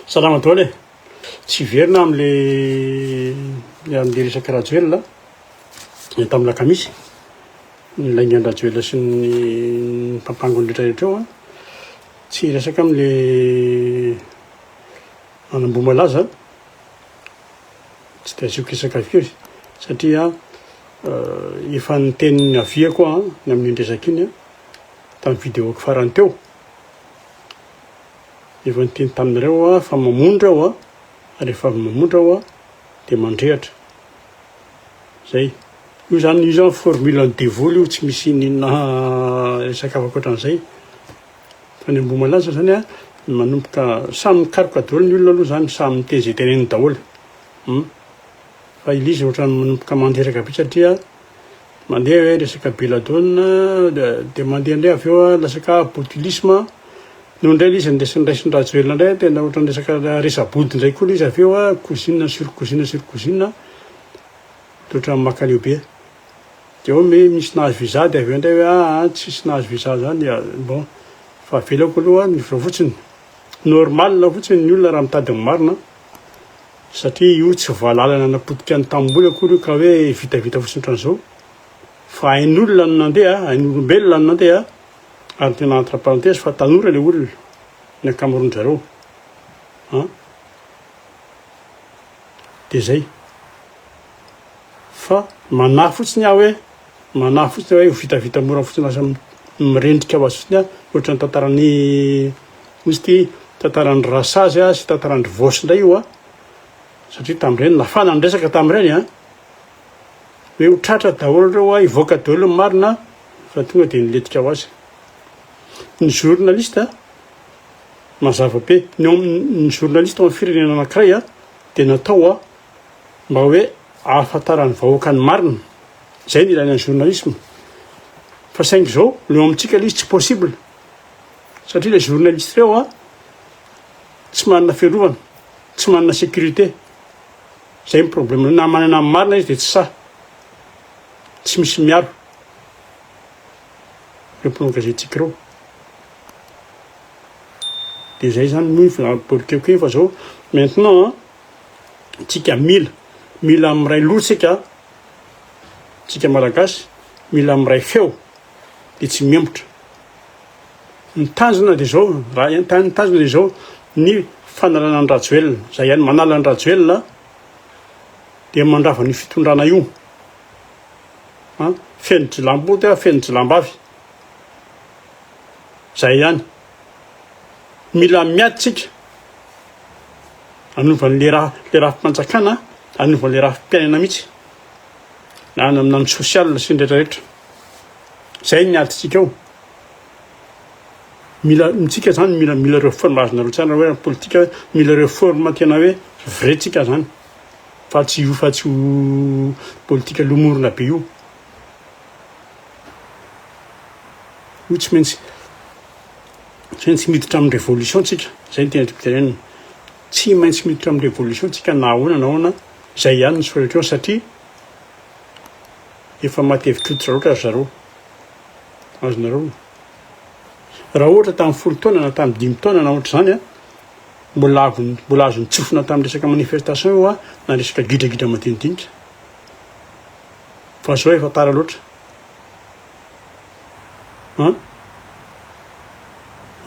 Salama daholo e. Tsy verina amle amle resaky Rajoelina ny tamin'ny lakamisy. Ny laingan'i Rajoelina sy ny mpampango ny rehetra rehetra eo a. Tsy hiresaka amin'ilay manamboamalaza aho, tsy dia asiako resaka firy satria efa niteny ny aviako aho ny amin'iny resaka iny an, tamin'ny vidéo-ko farany teo. Efa niteny taminareo aho fa mamondra aho an, ary rehefa avy mamondra aho an, dia mandrehitra. Zay. Io zany, io zany formule an'i devoly io, tsy misy ininona resaka hafa koatran'izay. Fa ny ambohimalaza zany a, manomboka, samy mikaroka daholo ny olona aloha zany, samy miteny ze teneniny daholo. Hum. Fa i Liza ohatrany manomboka mandreraka be satria mandeha hoe resaka Belladonna, dia mandeha ndray avy eo lasaka botulisme, Noho indray ilay izy niresa niraisin-dRajoelina indray tena ohatran'ny resaka resa-body indray koa ilay izy avy eo a, cousine sur cousine sur cousine a, dia ohatran'ny maka an'io be. Dia ao mi- misy nahazo visa dia avy eo indray hoe aa tsisy nahazo visa izany a, bon, fa avelako aloha ny visa fotsiny. Normal fotsiny ny olona raha mitady ny marina satria io tsy valala nanapotika ny tanimboly akory io ka hoe vitavita fotsiny ohatran'izao fa ain'olona no nandeha, ain'olombelona no nandeha. ary tena entre parenthèse fa tanora ilay olona, ny ankamaroan-dry zareo an, dia zay fa manahy fotsiny aho hoe manahy fotsiny hoe ho vitavita mora fotsiny lasa mirendrika ho azy fotsiny an, ohatran'ny tantaran'ny misy ity tantaran'ny rasazy an sy tantaran'ny vosy indray io an, satria tamin'ireny nafana ny resaka tamin'ireny an. hoe ho tratra daholo ireo hoa hivoaka daholo ny marina fa tonga dia nilentika ho azy ny journaliste mazava be ny ny journaliste amin'ny firenena anankiray a dia natao a mba hoe ahafantaran'ny vahoaka ny marina izay ny ilana ny journalisme fa saingy izao leo amintsika ilay izy tsy possible satria ilay journaliste ireo a tsy manana fiarovana tsy manana sécurité Zay ny problème na manana ny marina izy de tsy sahy. Tsy misy miaro. Reo mpanao gazety tsic reo. De zay zany moa fa borikeko iny fa zao maintenant tsika mila mila miray loha tsika tsika malagasy mila miray feo de tsy mihemotra. Ny tanjona dia izao, raha ny tanjona dia izao, ny fanalana an'i Rajoelina. Izay ihany, manala an'i Rajoelina dia mandrava an'io fitondrana io. Feno jilamboto, feno jilambavy. Izay ihany. Mila miady tsika anovan'le raha le rafi-panjakana, anovan'le rafi-piainana mihitsy. Na any amin'ny sosialina sy ny rehetra rehetra. Izay ny adintsika eo. Mila mitsika zany mila mila reforme azonareo tsara hoe politika hoe mila reforme tena hoe vrai tsika zany fa tsy io fa tsy ho politika lomorona be io io tsy maintsy tsy maintsy miditra amin'ny révolution tsika zay ny tena tiako tenenina tsy maintsy miditra amin'ny révolution tsika na ahoana na ahoana zay ihany ny solution satria efa matevitrototra loatra ry zareo Azonareo onona. Raha ohatra tamin'ny folo taona na tamin'ny dimy taona na ohatr'izany a, mbola mbola azon'ny tsofina tamin'ny resaka manifestation io a, na resaka gidragidra madinidinika. Fa zao efa tara loatra. An?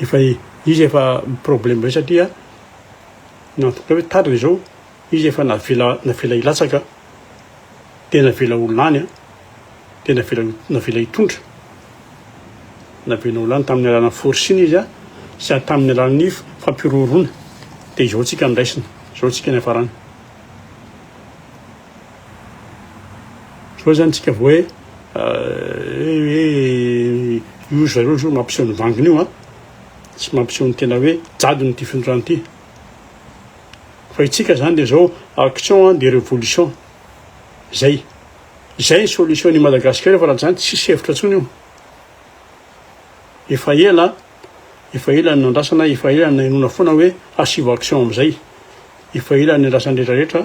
Efa izy efa problème ray satria nantokona hoe tara izao, izy efa navela navela hilatsaka dia navela ho lany a. dia navela navela hitondra. Navela ho lany tamin'ny alalan'ny forcing izy sy tamin'ny alalan'ny fampiroroana. Dia izao tsika niraisina, izao tsika niafarana. Izao zany tsika vao hoe hoe io zareo zao mampiseho ny vanginy io an, tsy mampiseho ny tena hoe jadona ity findrorana ity. Fa itsika zany dia izao action de révolution, Zay. Izay ny solution ny Madagascar io fa raha tsy zany tsisy hevitra tsony io. Efa ela, efa ela ny nandrasana, efa ela ny nainona foana hoe hasivo action amizay. Efa ela ny andrasany rehetra rehetra.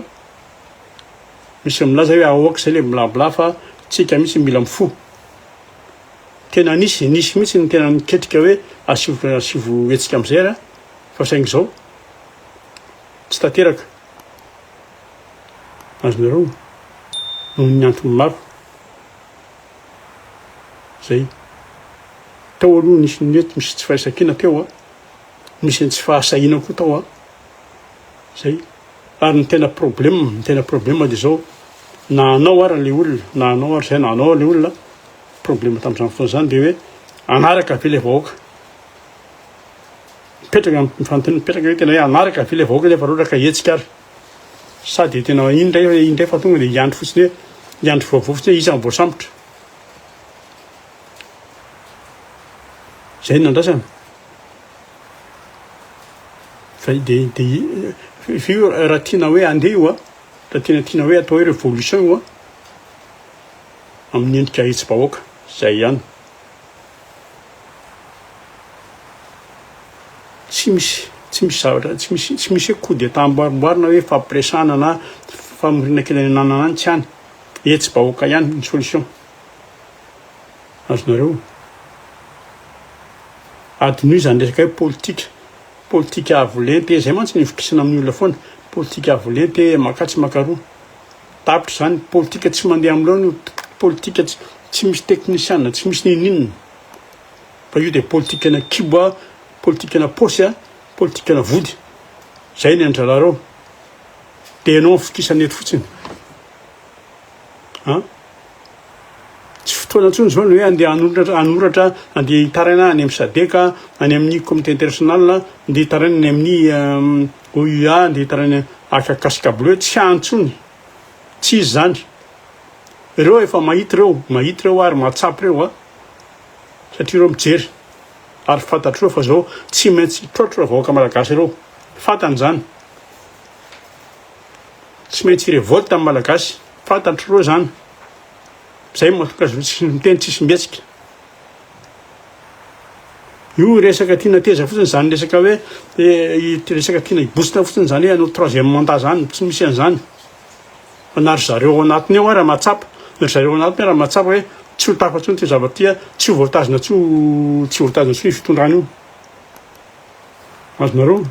Misy milaza hoe ahoaka zay le bla bla fa tsika mitsy mila mifo. Tena nisy, nisy mitsy ny tena niketrika hoe hasivo, hasivo hetsika amizay ary fa saingy zao tsy tanteraka. Azonareo? Noho ny antony maro. Zay. Tao aloha nisy nety misy tsy fahaisan-kina teo a. Nisy ny tsy fahasahiana koa tao a. Zay. Ary ny tena problème, ny tena problème dia zao, na anao ary le olona, na anao ary zay, na anao ary le olona, problème tamin'izany fotoana izany dia hoe hanaraka ve le vahoaka? Mipetraka mifantin mipetraka eto ilay hanaraka ve ilay vahoaka nefa roraka hetsika ary sa dia tena iny indray iny indray fa tonga dia hiandry fotsiny hoe hiandry vaovao fotsiny hoe iza no voasambotra izay no nandrasana fa dia dia fa io raha tiana hoe andeha io a raha tiana tiana hoe atao hoe révolution io a amin'ny endrika hetsy-bahoaka izay ihany Tsy misy tsy misy zavatra tsy misy tsy misy hoe coup d'état amboarimboarina hoe fampiresahana na famoriana kely any ananana any tsy any. Etsy bahoaka ihany ny solution. Azonareo? Adinoy izany resaka hoe politika. Politika avo lenta e, izay mantsy ny ivokisana amin'ny olona foana. Politika avo lenta e, maka atsy maka aroa. Tapitra izany, politika tsy mandeha amin'ireo no politika tsy misy teknisiana, tsy misy ninoninona. Fa io dia politikana kibo, politikana paosy, politikana vody. Izay ny an'ny dralareo. Dia ianao fokisana eto fotsiny. An? Tsy fotoana intsony izao ny hoe andeha hanoratra, hanoratra andeha hitaraina any amin'ny sadeka, any amin'ny comité international, andeha hitaraina any amin'ny euh, UA nde hitana ny aka casque bleu tsy any tsony tsy izy zany reo efa mahita reo mahita reo ary mahatsapy reo a satria reo mijery ary fantatreo fa zao tsy maintsy traotro ra vahoaka malagasy reo fantany zany tsy maintsy revolte am malagasy fantatro reo zany zay mahatonga azy reo tsy miteny tsisy mihetsika Io resaka tiana teza fotsiny zany resaka hoe eh, resaka tiana hibositra fotsiny zany hoe hanao troisième mandat zany, tsy misy an'izany. Fa na ry zareo ao anatiny ao ara mahatsapa, na ry zareo ao anatiny ara mahatsapa hoe tsy ho tafa intsony ity zavatra ity, tsy ho voatazona tsy ho tsy voatazona intsony fitondrana io. Azonareo?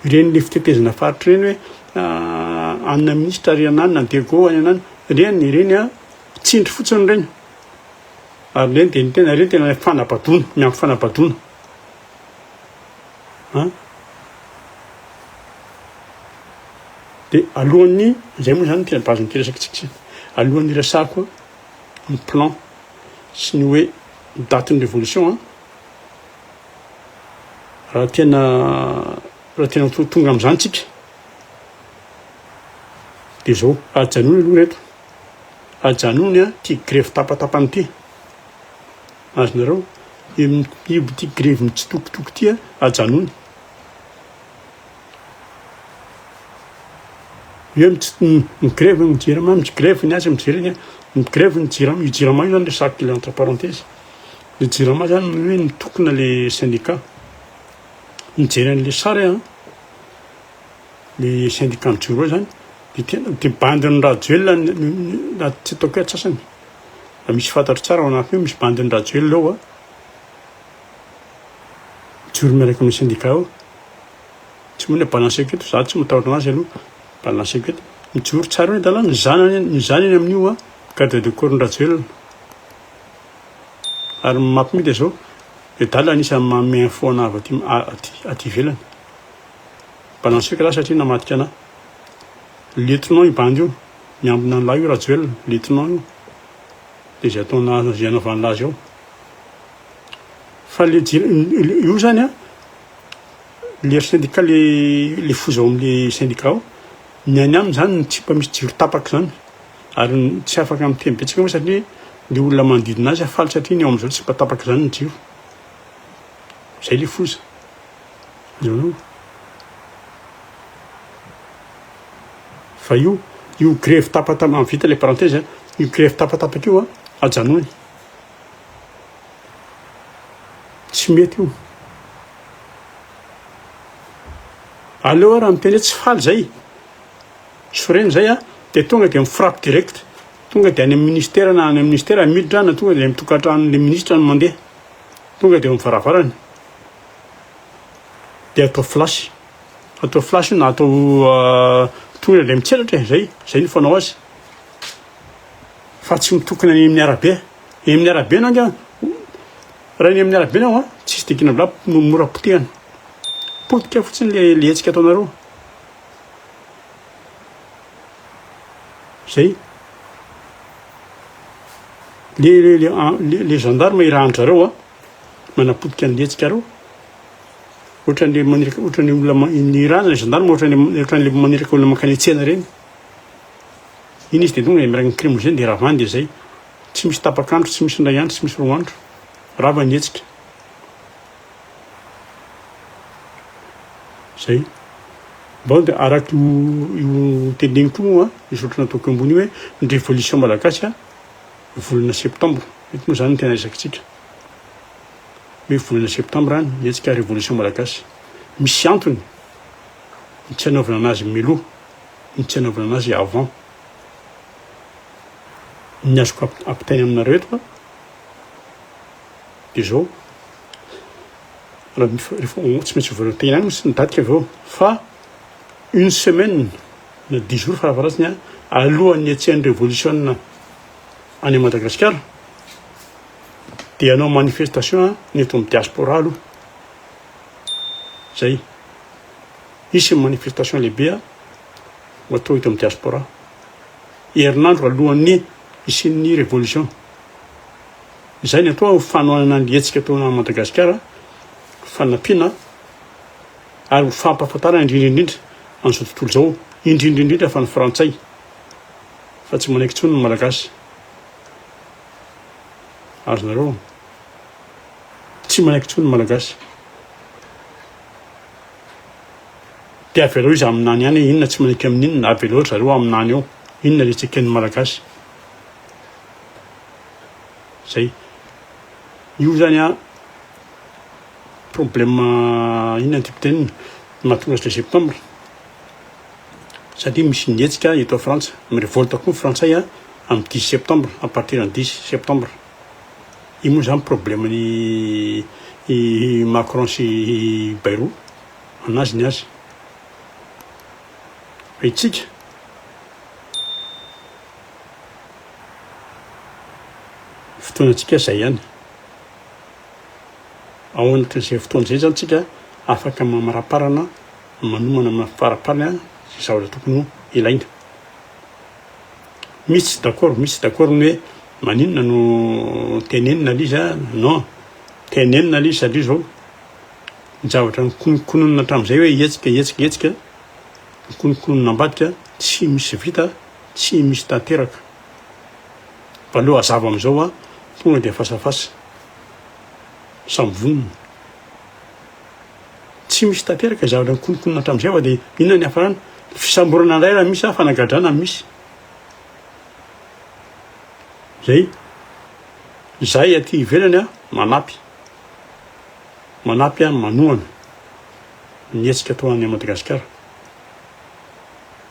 Ireny le fitetezana faritra ireny hoe ah, anona minisitra ary ananina, dego any anana, ireny ireny ah, Tsindry fotsiny ireny. Ary ireny dia ny tena ireny tena ilay fanabadoana, miampy fanabadoana. An? Dia alohan'ny, izay moa izany tena bazin'ity resakitsika izay. Alohan'ny resako ny plan sy ny hoe datin'ny révolution an. Raha tena raha tena tonga amin'izany tsika dia izao, ajanony aloha ireto. Ajanony an ty grevy tapatapany ty. Azonareo? Io ty grevy mitsitokotoko ty an ajanony. Eo ny grevy ny jirama ny grevy ny azy ny jirama ny grevy ny jirama io jirama io zany le sac le entre parenthèse le jirama zany ny hoe nitokona le syndicat mijery an'le sary an. ny syndicat jumbo zany de tena de bandy ny rajoelina na tsy ataoko hoe atsasany fa misy fantatro tsara ao anatiny ao misy bandy ny rajoelina ao a mijoro miaraka aminy syndicat ao tsy moa ny balance equity za tsy matahotra anazy aloha balance equity mijoro tsara eo ny dalàna ny zanany ny zanany amin'io a garde de corps ny rajoelina ary ny mampimita zao le dalana anisan'ny manome info ana avy aty aty aty ivelany Mba nanosika lahy satria namadika anah. Lieutenant io bandy io, miambina an'lah io Rajoelina, lieutenant io. Dia izay ataonah azy, izay anaovan'lah azy ao. Fa le io zany an, leader syndicat le le foza ao amin'le syndicat ao, ny any aminy zany ny tsipa misy jiro tapaka zany. Ary tsy afaka miteny betsaka moa satria le olona manodidina azy faly satria ny ao amin'izao tsipa tapaka zany ny jiro. Zay le foza. Fa io io grevy tapatapaka an vita le parenthèse an io grevy tapatapaka io an ajanony tsy mety io aleo ara miteny hoe tsy faly zay sorena zay an de tonga de mifrappe direct tonga de any amin'ny ministera na any amin'ny ministera miditra na tonga de any amin'ny tokantranon'le ministra no mandeha tonga de eo amin'ny varavarany dia atao flash atao flash na atao tohina ilay mitselatra e zay zay ny fanao azy fa tsy mitokana any amin'ny arabe eny amin'ny arabe anao anga raha eny amin'ny arabe anao a tsisy dikina bla mora potehana potika fotsiny le le hetsika ataonareo zay le le le le gendarme irahan-dry zareo a manapotika ny hetsika reo ohatrany maniraka ohatrany olona ny ra zany gendarme ohatrany ohatrany le maniraka olona mankany tsena reny iny izy de tonga miaraka ny crime zay de ravany de zay tsy misy tapak'andro tsy misy indray andro tsy misy roa andro rava ny hetsika zay mbao de araka io io teneniko io a misy ohatry nataoko ambony hoe ny révolution malagasy a volana septambra. Eto moa izany no tena ezakitsika hoe volana septambra any hetsika revolution malagasy. Misy antony ny tsy anaovana anazy miloha, ny tsy anaovana anazy avant. Ny azoko ampitaina aminareo eto dia izao, tsy maintsy voalohany tena any misy ny daty avy eo fa une semaine Na diso aza fa avaratsiny an! Alohan'ny niatsehan'ny revolisiona any Madagasikara dia hanao manifestation ny eto amin'ny diaspora aloha. Zay. Hisy ny manifestation lehibe ho atao eto amin'ny diaspora. Herinandro alohan'ny hisian'ny revolution. Izay ny atao fanohanana ny hetsika ataonao Madagasikara fanampiana ary ho fampahafantarana indrindra indrindra an'izao tontolo izao, indrindra indrindra fa ny frantsay fa tsy manaiky intsony ny malagasy. Azonareo? Tsy manaiky intsony ny malagasy. Dia avelao izy aminany ihany, inona tsy manaiky amin'inona, avelao zareo aminany eo, inona le tsy eken'ny malagasy. Zay. Io zany a, problema inona ny tibitenina mahatonga zay septembre satria misy ny hetsika eto frantsa mi revolte koa ny frantsay a am dix septembre a partir ny dix septembre io moa zany problema ny i macron sy i bairo anazy ny azy fa itsika fotoana antsika zay ihany Ao anatin'izay fotoana izay izany isika afaka mamaraparana manomana amin'ny faraparany izay zavatra tokony ho ilaina. Misy tsy d'accord, misy tsy d'accord ny hoe maninona no tenenina ilay izy a, non, tenenina ilay izy satria izao ny zavatra nikononkononina hatramin'izay hoe hetsika hetsika hetsika, nikononkononina ambadika tsy misy vita, tsy misy tanteraka. Fa aleo hazava amin'izao a, tonga dia face à face. Samy vonona. Tsy misy tanteraka ny zavatra nikononkonona hatramin'izay fa dia inona ny hiafarana? Fisamborana indray raha misy sa fanagadrana no misy? Izay. Izahay aty ivelany manampy. Manampy manohana ny hetsika atao any Madagasikara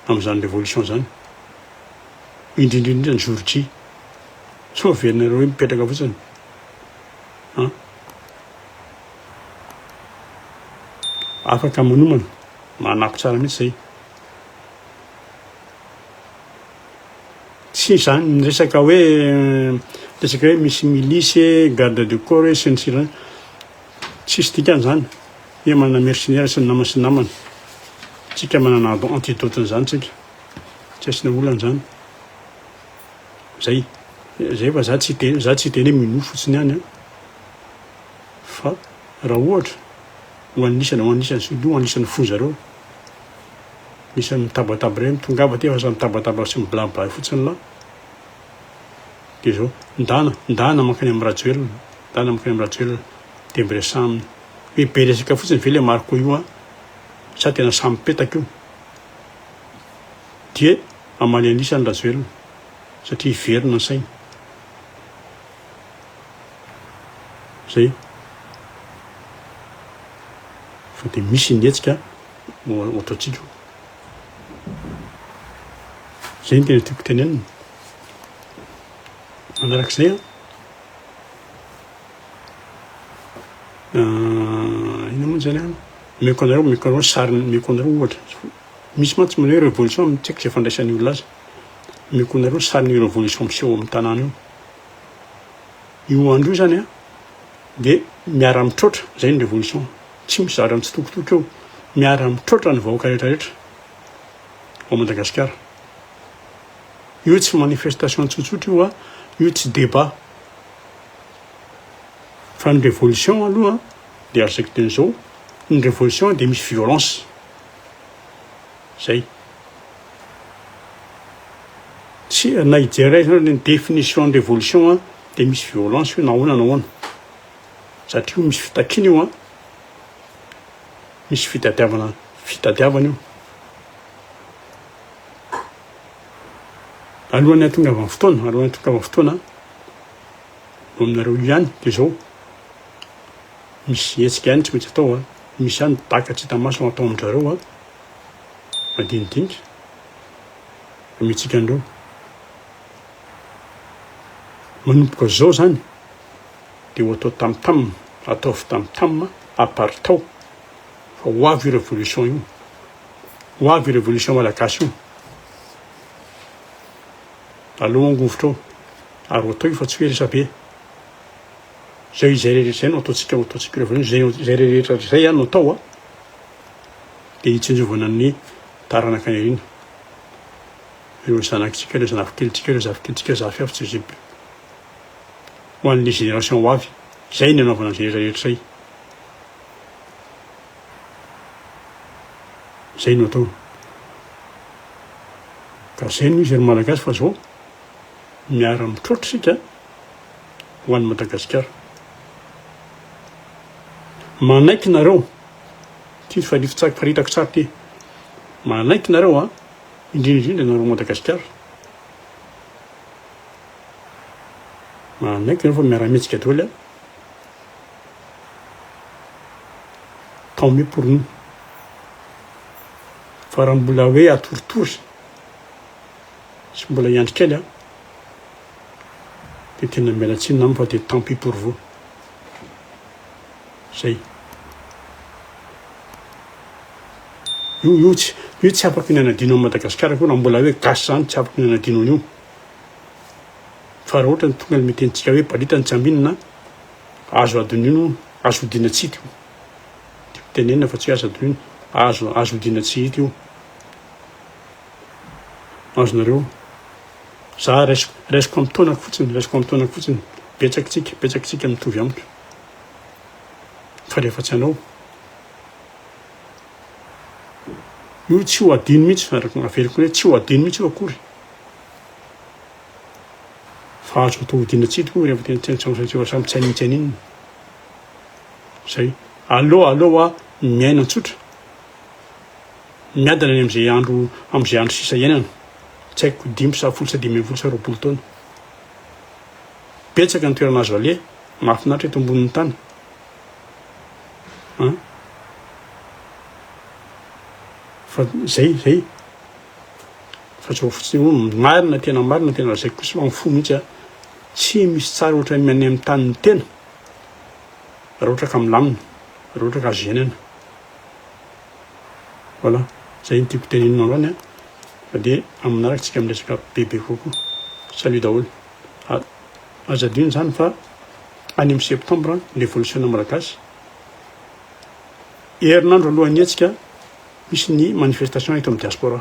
amin'izany révolution izany. Indrindra indrindra ny jour J. Sao averinareo hoe mipetraka fotsiny an? Afaka manomana, manako tsara mihitsy zay. Tsy izany ny resaka hoe resaka hoe misy milice, garde de corps hoe sy ny sisa tsisy dikany zany. Hoe manana mercenaire sy ny namany sy ny namany. Tsika manana antidote an'izany tsika. Tsy asiana olana zany. Zay. Zay fa za tsy hiteny za tsy hiteny hoe minoa fotsiny ihany an. Fa raha ohatra ho anisany ho anisany sy ho anisany foza reo misy mitabataba reny tongava aty fa sa mitabataba sy miblabla fotsiny lah de zao ndana ndana mankany am Rajoelina ndana mankany am Rajoelina de miresaha aminy hoe be resaka fotsiny ve le Marco io an sa tena samy petaka io Dia hamaly an'isa ny Rajoelina satria hiverina ny sainy. Zay. Fa dia misy ny hetsika ohatrantsika. Zay ny tena tiako tenenina. Manarak'izay an. Inona moa zany an. Omeko anareo, omeko anareo sariny, omeko anareo ohatra. Misy mantsy manao hoe revolution amin'ny tsy haiko izay fandraisan'ny olona azy. Omeko anareo ny sarin'io revolution miseho ao amin'ny tanàna io. Io andro io zany dia miara-mitroatra, izay ny revolution. Tsy mizara mitsitokotoko eo. Miara-mitroatra ny vahoaka rehetrarehetra ao Madagasikara. Io tsy manifestation tsotsotra io, io tsy débat. Fa ny revolution aloha dia araka izay teny izao, ny revolution dia misy violence. Zay. Tsy, na hijerena ny définition ny révolution an, dia misy violence io na ahoana na ahoana. Satria io misy fitakiana io an. Misy fitadiavana, fitadiavana io. Alohan'ny hahatongavan'ny fotoana, alohan'ny hahatongavan'ny fotoana an, ho aminareo ihany dia zao. Misy hetsika ihany tsy maintsy atao an! Misy ihany ny daka tsy hita maso no atao amin-dRareo an! Madinidinika amiantsika an'ireo. Manomboka izao izany dia ho atao tam tam, ataovy tam tam, aparitao fa ho avy io révolution io, ho avy io révolution malagasy io. Alao angovitra ao ary ho atao io fa tsy hoe resabe. Zay izay rehetra izay no ataontsika no ataontsika ireo vahiny izay izay rehetra izay no atao a dia hitsinjovana ny taranaka ireny ireo zanakitsika ireo zanakikelintsika ireo zafikelitsika zafy avy tsy zipy ho an'ny génération ho avy izay ny anaovana izay rehetra rehetra izay izay no atao ka izay no izy ry malagasy fa zao miara mitroatra isika ho an'i Madagasikara. Manaiky nareo, ty fa lify tsary paritaka tsary ty, manaiky nareo a, indrindra indrindra nareo Madagasikara, manaiky nareo fa miara mihetsika daholo a, tant mieux pour nous, fa raha mbola hoe atoritory sy mbola hiandry kely a, de tena miala tsiny namana fa de tant pis pour vous. Zay. Io io tsy io tsy afaka ny anadino an'i Madagasikara akory raha mbola hoe gasy zany tsy afaka ny anadino an'io. Fa raha ohatra ny tonga ny miteny tsika hoe balita ny tsy aminina azo adinino azo odina tsy hita io. Tiako tenenina fa tsy hoe azo adinino azo azo odina tsy hita io. azonareo za raisiko raisiko amin'ny taonako fotsiny raisiko amin'ny taonako fotsiny betsaky tsika betsaky tsika mitovy amiko fa rehefa tsy anao io tsy ho adino mihitsy araka aveliko hoe tsy ho adino mihitsy io akory fa azo atao hodina tsy tokoa rehefa tena tena tsaosaotra samy tsy anitsy an'inona zay allo allo a miaina tsotra Miadana any amin'izay andro amin'izay andro sisa iainana, tsy haiko dimy sa folo sa dimy ambin'ny folo sa roapolo taona. Betsaka ny toerana azo aleha mahafinaritra eto ambonin'ny tany an! Fa zay zay fa zao fotsiny hoe marina tena marina tena lazaiko kosa fa mifoha mihitsy a tsy misy tsara ohatra ny any amin'ny tanin'ny tena raha ohatra ka milamina raha ohatra ka azo iainana Voilà, zay no tiako tenenina anao ny an, de amin'ny manaraka tsika miresaka bebe kokoa. Salut daholo. Aza adino zany fa any amin'ny septembre ny revolisiona malagasy, herinandro alohan'ny hetsika misy ny manifestation eto amin'ny diaspora.